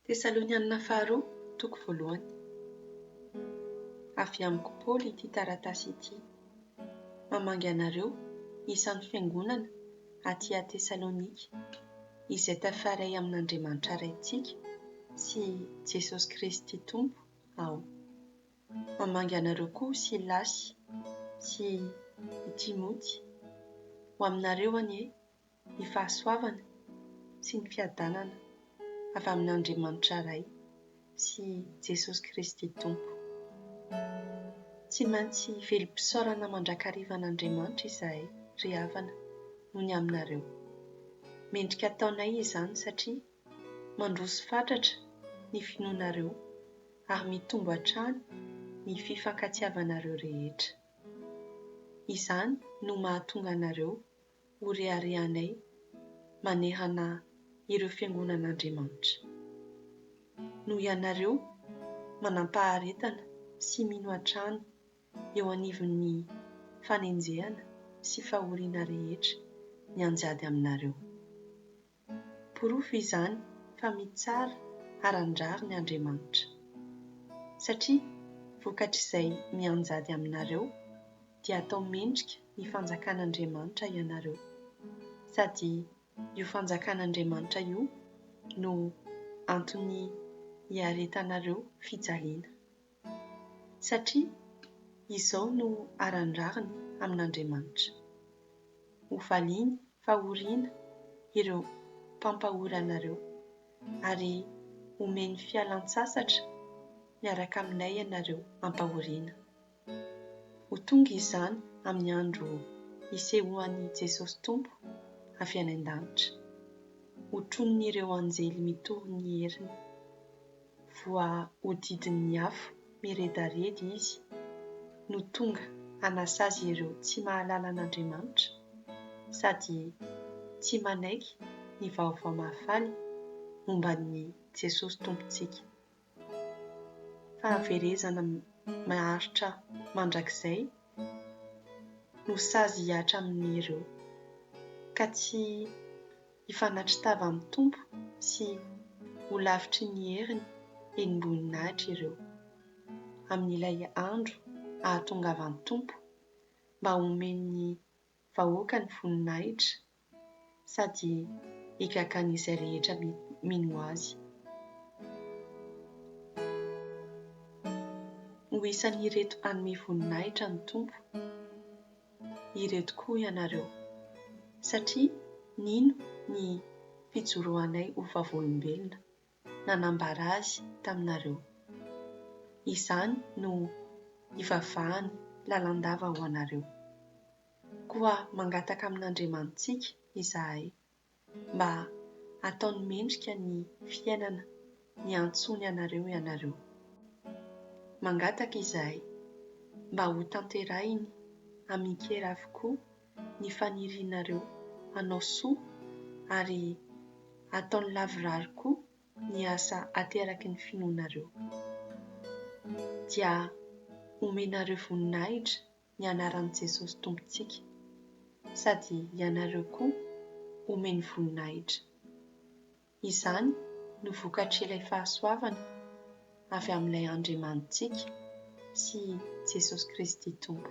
Tesalonianina Faharoa, toko voalohany. Avy amiko Paoly ity taratasy ity, mamangy anareo isan'ny fiangonana aty Tesalonika, izay tafaray amin'Andriamanitra Raintsika sy Jesosy Kristy Tompo aho. Mamangy anareo koa Silasy sy i Timoty. Ho aminareo anie ny fahasoavana sy ny fiadanana avy amin' Andriamanitra Ray sy Jesosy Kristy Tompo. Tsy maintsy velom-pisaorana mandrakariva an' Andriamanitra izahay, ry havana, noho ny aminareo. Mendrika ataonay izany satria mandroso fatratra ny finoanareo ary mitombo hatrany ny fifankatiavanareo rehetra. Izany no mahatonga anareo ho reharehanay manehana ireo fiangonan'Andriamanitra. Noho ianareo manampaharetana sy mino hatrany eo anivon'ny fanenjehana sy fahoriana rehetra nianjady aminareo. Porofo izany fa mitsara haran-drariny Andriamanitra. Satria vokatr'izay mianjady aminareo dia atao mendrika ny fanjakan'Andriamanitra ianareo, sady io fanjakan'Andriamanitra io no antony iaretanareo fijaliana. satria izao no aran-drariny amin'Andriamanitra, ho valiany fahoriana ireo mpampahory anareo, ary homeny fialan-tsasatra miaraka aminay ianareo am-pahoriana. Ho tonga izany amin'ny andro hisehoan'i Jesosy Tompo avy any an-danitra, hotronin'ireo anjely mitory ny heriny. voahodidin'ny afo miredareda izy no tonga hanasazy ireo tsy mahalala an'Andriamanitra sady tsy manaiky ny vaovao mahafaly momba an'i Jesosy Tompontsika. Fahaverezana maharitra mandrakizay no sazy hiatra amin'ireo, ka tsy Hifanatri-tava amin'ny Tompo sy ho lavitry ny heriny enim-boninahitra ireo, amin'ilay andro ahatongavan'ny Tompo mba homen'ny vahoakany voninahitra sady higagan'izay rehetra mino Azy. Ho isan'ireto hanome voninahitra ny Tompo. ireto koa ianareo, satria nino ny fijoroanay ho vavolombelona nanambara azy taminareo. Izany no ivavahany lalandava ho anareo. Koa mangataka amin'Andriamanitsika izahay mba hataony mendrika ny fiainana niantsoany anareo ianareo. Mangataka izahay mba ho tanterahiny amin-kera avokoa ny fanirianareo hanao soa ary hataony lavorary koa ny asa ateraky ny finoanareo. Dia omenareo voninahitra ny anaran'i Jesosy Tompontsika, sady ianareo koa omeny voninahitra. Izany no vokatr'ilay fahasoavana avy amin'ilay Andriamanitsika sy Jesosy Kristy Tompo.